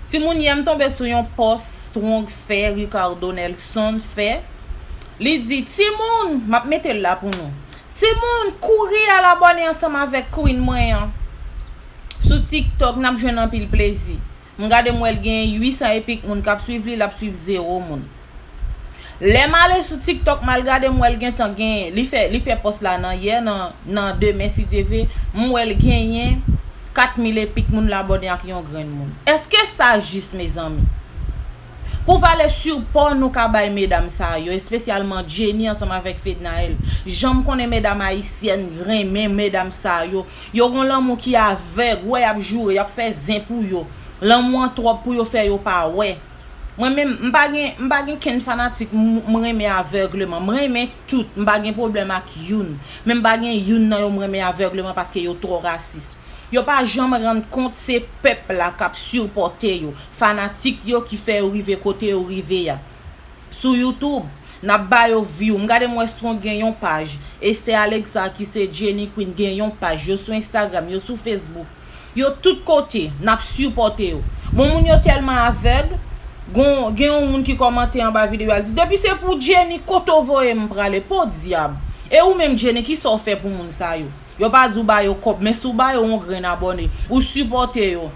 Timoun yè m tonbe sou yon pòs strong fè Ricardo Nelson fè Li di timoun map mete l la pou nou Timoun kouri al abòne ansanm avèk Queen mwen an sou tiktok nap jwenn anpil plezi M gade m wè l gen 800 e pik moun kap swiv li lap swiv 0 moun. Lèm ale sou tiktok mal gade m wèl gentan gen li fè li fè pòs la nan yè nan nan demen si Dye ve m wèl genyen 4 mil e pik moun l abòne ak yon grenn moun èske sa jis mezanmi pou vale sipò nou ka bay medam sa yo espesyalman Jenny ansanm avèk Fednaelle janm konnen medam ayisyèn renmen medam sa yo yo gon lanmou ki avèg wè y ap joure y ap fè zen pou yo lanmou an twòp pou yo fè yo pa wè. Mwen menm m pa gen m pa gen kenn fanatik m renmen avègleman. M renmen tout, m pa gen pwoblèm ak youn. Men m pa gen youn nan yo m renmen avègleman paske yo twò rasis. Yo pa janm rann kont se pèp la k ap sipòte yo, fanatik yo ki fè yo rive kote yo rive a. Sou YouTube, n ap ba yo vyou. M gade m wè Strong gen yon paj, Esther Alexa ki se Jenny Queen gen yon paj. Yo sou Instagram, yo sou Facebook. Yo tout kote, nap sipòte yo. Bon moun yo tèlman avèg, gen yon moun ki kòmante anba video a li di depi se pou Jenny kote w voye m prale podyab. E ou menm Jenny kisa w fè pou moun sa yo? Yo pa di w ba yo kòb men si w ba yo yon grenn abòne, ou sipòte yo,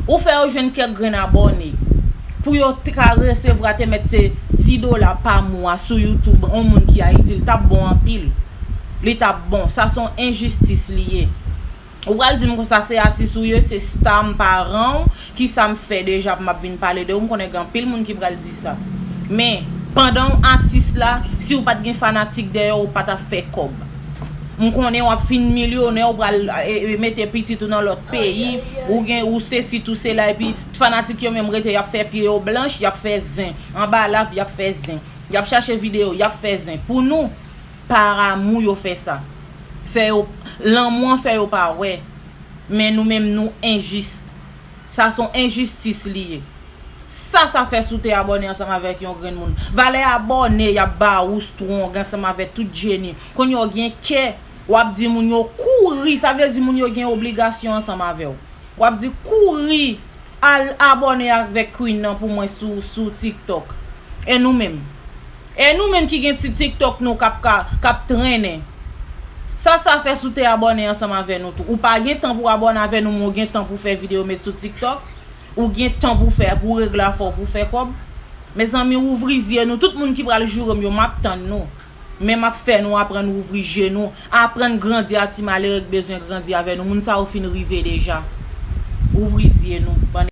ou fè yo jwenn kèk grenn abòne pou yo te ka resevwa te mèt se 10 dola pa mwa sou youtube yon moun ki Ayiti li tap bon anpil. Li tap bon. Sa son enjistis li ye. Ou pral dim konsa se atis ou ye se star m pa ranw kisa m fè deja pou map vin pale de ou m konnen gen anpil moun ki pral di sa men pandanw atis la siw pat gen fanatik dèyèw ou patap fè kòb m konnen wap fin milyonè ou pral mete pitit ou nan lòt peyi ou gen ou sesi tou sela epi t fanatik yo menm rete yap fè pye yo blanch yap fè zen anba lap yap fè zen yap chache videyo yap fè zen pou nou Par amour yo fè sa. Fè yo Lanmou an fè yo pa wè. Men nou menm nou injuste. Sa son injustice li ye. Sa sa fè sou te abòne ansanm avèk yon grenn moun. Valè abòne yap ba ou strong ansanm avèk tout Jenny. Kounye ou gen kè wap di moun yo kouri sa vle di moun yo gen obligasyon ansanm avèw. Wap di kouri al abòne avèk Queen nan pou mwen sou TikTok. E nou menm. E nou menm ki gen ti tiktok nou kap ka kap trennen Sa sa fè si w te abòne ansanm avè nou tou Ou pa gen tan pou abòne avè nou men w gen tan pou fè videyo met sou tiktok Ou gen tan pou fè pou regle afè w pou fè kòb Mezanmi ouvri zye nou tout moun ki pral joure m yo map tann nou Men map fè nou aprann ouvri je nou Aprann grandi a ti malere k bezwen grandi avè nou Moun sa yo fin rive deja Ouvri zye nou bann